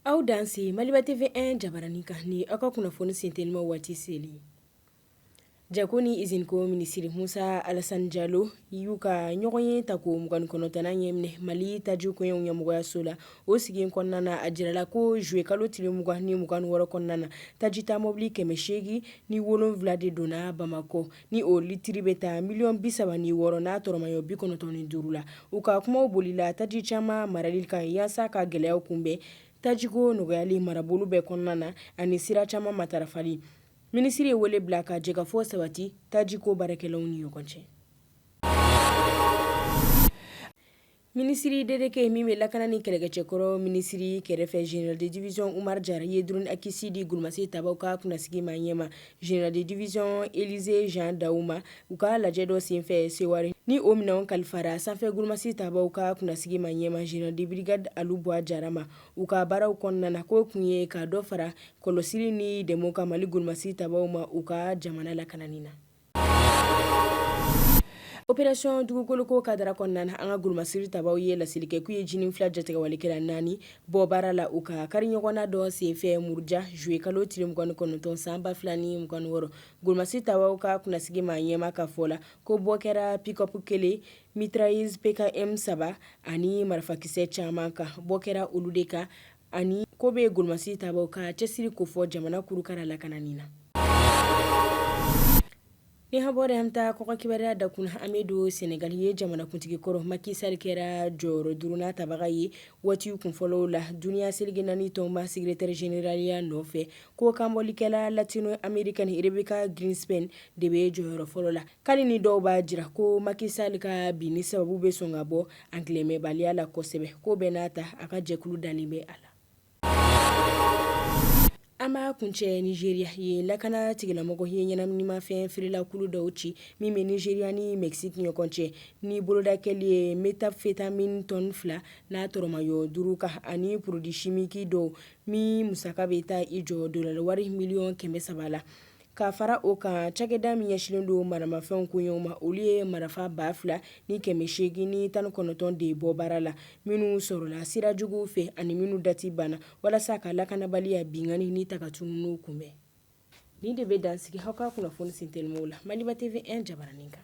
Aw danse Maliba TV 1 jabaranin kan ni aw ka kunnafoni senteliman waati seli jago ni izinko minisiri musa alasani jalo y'u ka ɲɔgɔnye tako mugan ni kɔnɔntɔnnan ɲɛminɛ mali taji koɲɛw ɲɛmɔgɔyaso la o sigi kɔnɔna na a jirala ko zuye kalo tile mugan ni mugan ni wɔɔrɔ kɔnɔna na tajita mobili kɛmɛ seegin ni wolonwula de donna bamakɔ ni o litiri bɛ taa miliyɔn bi saba ni wɔɔrɔ n'a tɔrɔmayɔ bi kɔnɔntɔn ni duuru la u ka kumaw bolila taji caman marali kan yaasa ka gɛlɛyaw kunbɛn tajiko nɔgɔyali marabolo bɛɛ kɔnɔna na ani sira caman matarafali minisiri ye wele bila ka jɛkafɔ sabati tajiko baarakɛlaw ni ɲɔgɔn cɛ Minisiri delege min bɛ lakana ni kɛlɛkɛcɛkɔrɔ minisiri kɛrɛfɛ général de division Umar jara ye drone Akinci di golomasi tabaw ka kunnasigi maa ɲɛmaa général de division Élisée Jean Dao ma u ka lajɛ dɔ senfɛ Sewari ni o minɛnw kalifara sanfɛ golomasi tabaw ka kunnasigi maa ɲɛmaa général de brigade Alu Bwa jara ma u ka baaraw kɔnɔna na k'o kun ye ka dɔ fara kɔlɔsili ni dɛmɛ kan mali golomasi tabaw ma u ka jamana lakanani na Opération dugukoloko kadara kɔnɔna na an ka golomasiri tabaw ye laseli kɛ k'u ye JNIM FLA jatigɛwalekɛla naani bɔ baara la u ka kari ɲɔgɔnna dɔ senfɛ muruja zuye kalo tile mugan ni kɔnɔntɔn san ba fila ni mugan ni wɔɔrɔ golomasiri tabaw ka kunnasigi maa ɲɛmaa ka fɔ la ko bɔ kɛra pick-up kelen mitrailleuse PKM saba ani marifakisɛ caman kan bɔ kɛra olu de kan ani k'o bɛ golomasi tabaw ka cɛsiri kofɔ jamana kurukara lakanani na ni an bɔra yen an taa kɔkan kibaruya dakun na an bɛ don sɛnɛgali ye jamanakuntigi kɔrɔ Macky Sall kɛra jɔyɔrɔ duurunan tabaga ye waati kun fɔlɔ la duniya seleke naani tɔnba secrétaire généralya nɔfɛ ko kanbɔlikɛla latino-américaine Rebeca Grynspan de bɛ jɔyɔrɔ fɔlɔ la hali ni dɔw b'a jira ko Macky Sall ka binni sababu bɛ sɔn ka bɔ angilɛ mɛnbaliya la kosɛbɛ k'o bɛɛ n'a ta a ka jɛkulu dalen bɛ a la an b'a kuncɛ Nigeria ye lakana tigilamɔgɔ ye ɲɛnaminimafɛn feerelakulu dɔw ci min bɛ Nigeria ni Mexique ɲɔgɔn cɛ ni boloda kɛlen ye méthamphétamine tɔni fila n'a tɔrɔmaɲɔ duuru kan ani produit chimique dɔw min musaka bɛ taa i jɔ dolar wari miliyɔn kɛmɛ saba la Ka fara o kan cakɛda min ɲɛsinlen don maramafɛnw koɲɛw ma olu ye marifa 2000 ni 800 ni tan ni kɔnɔntɔn de bɔ baara la minnu sɔrɔla sira juguw fɛ ani minnu dati banna walasa ka lakanabaliya binkanni ni takatununiw kunbɛn nin de bɛ dan sigi aw ka kunnafoni sentelimanw la Maliba TV 1 jabaranin kan